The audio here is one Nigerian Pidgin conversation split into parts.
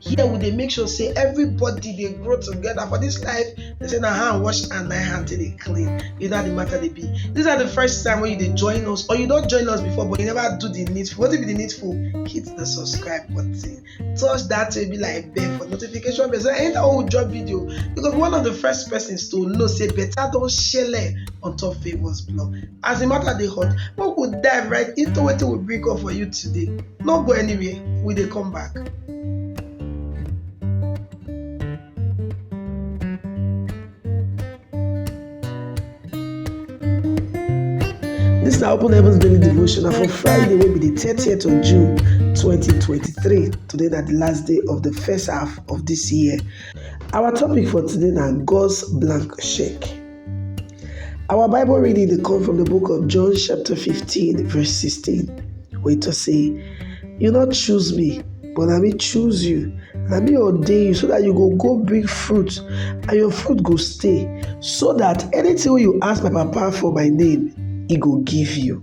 here we dey make sure say everybody dey grow together for this life they say na hand wash and na hand take dey clean you know how the matter dey be this na the first time wey you dey join us or you don join us before but you never do the needful wetin be the needful hit the subscribe button touch that way be like bell for notification bell so anytime wey we drop video you go be one of the first persons to know say better don shele on top favours blog as the matter dey hot make we dive right into wetin we bring up for you today no go anywhere we dey come back. This na Open Heavens Daily Devotional for Friday wey be the 30th of June 2023. Today na the last day of the first half of this year. Our topic for today na God's blank check. Our Bible reading dey come from the book of John chapter 15 verse 16 wey talk say, You no choose me, but na me choose you. Na me ordain you so that you go go bring fruit and your fruit go stay, so that anything wey you ask my papa for my name, he go give you.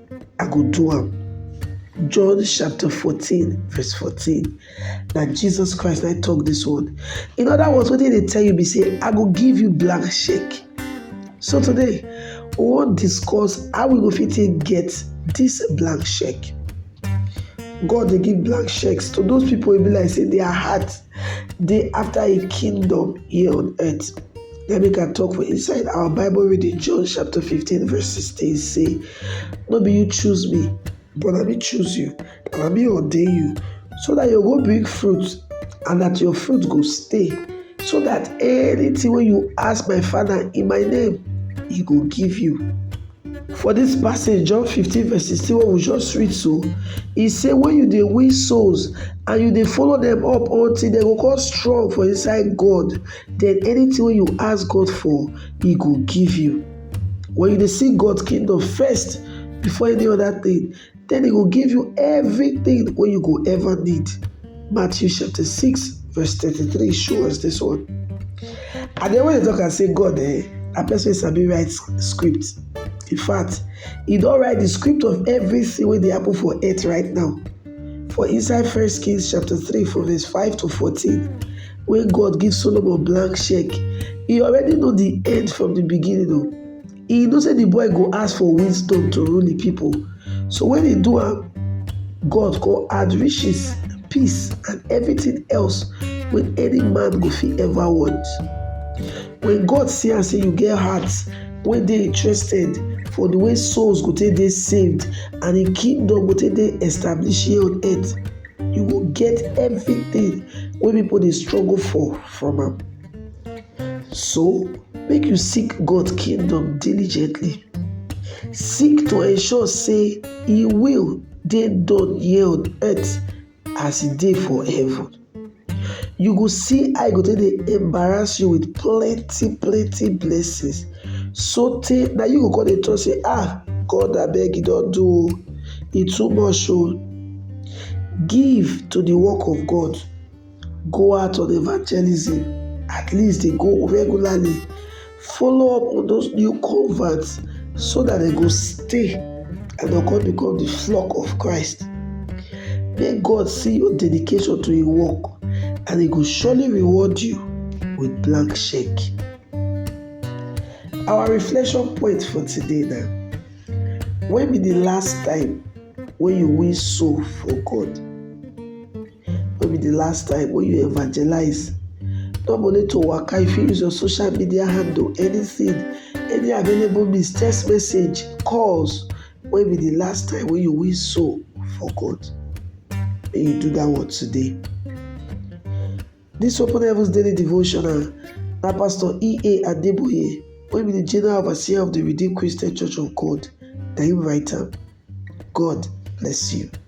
I go do am. John chapter 14, verse 14. Now Jesus Christ I talk this one. In other words, what did they tell you? Be say, I go give you blank shake. So today, we wan discuss how we go fit take get this blank check. God dey give blank checks to those people wey be like say their heart Day after a kingdom here on earth, na make I talk for inside our Bible reading, John chapter 15, verse 16 say, No be you choose me, but let me choose you, and let me ordain you, so that you go bring fruit, and that your fruit go stay, so that anything when you ask my Father in my name, he go give you. For dis passage, John 15 verse 16 wey we just read so, e say when you dey win souls and you dey follow dem up until dem go come strong for inside God, then anything wey you ask God for, e go give you. When you dey seek God kingdom first before any other thing, Then he go give you everything wey you go ever need. Matthew chapter 6 verse 33 show us this one. And then when they talk and say God eh, na person wey sabi write script. In fact, he don write the script of everything wey dey happen for earth right now. For inside First Kings chapter 3 from verse 5 to 14, wey God give Solomon blank check, he already know the end from the beginning o. He know say the boy go ask for wind stone to rule the people. So when he do am, God go add riches, peace, and everything else wey any man go fit ever want. When God see am say you get heart wey dey interested for the way souls go take dey saved and im kingdom go take dey established here on earth, you go get everything wey people dey struggle for from am. So, make you seek God kingdom diligently. Seek to ensure say e will dey done here on earth as e dey for heaven. You go see how e go take dey embarrass you with plenty plenty blessings sotey na you go come dey talk say ah God abeg e don do o, e too much o. Give to the work of God. Go out on evangelism, at least dey go regularly, follow up on those new converts so that dem go stay and dem come become the flock of Christ. May God see your dedication to Him work and He go surely reward you with blank check. Our reflection point for today na when be the last time when you win soul for God? No be the last time wey you evangelize. No be only to waka, you fit use your social media handle, anything, any available means, text message, calls. When be the last time wey you win soul for God? Make you do that one today. This Open Heavens Daily Devotional na Pastor E.A. Adeboye wey be the General Overseer of the Redeemed Christian Church of God na him write am. God bless you.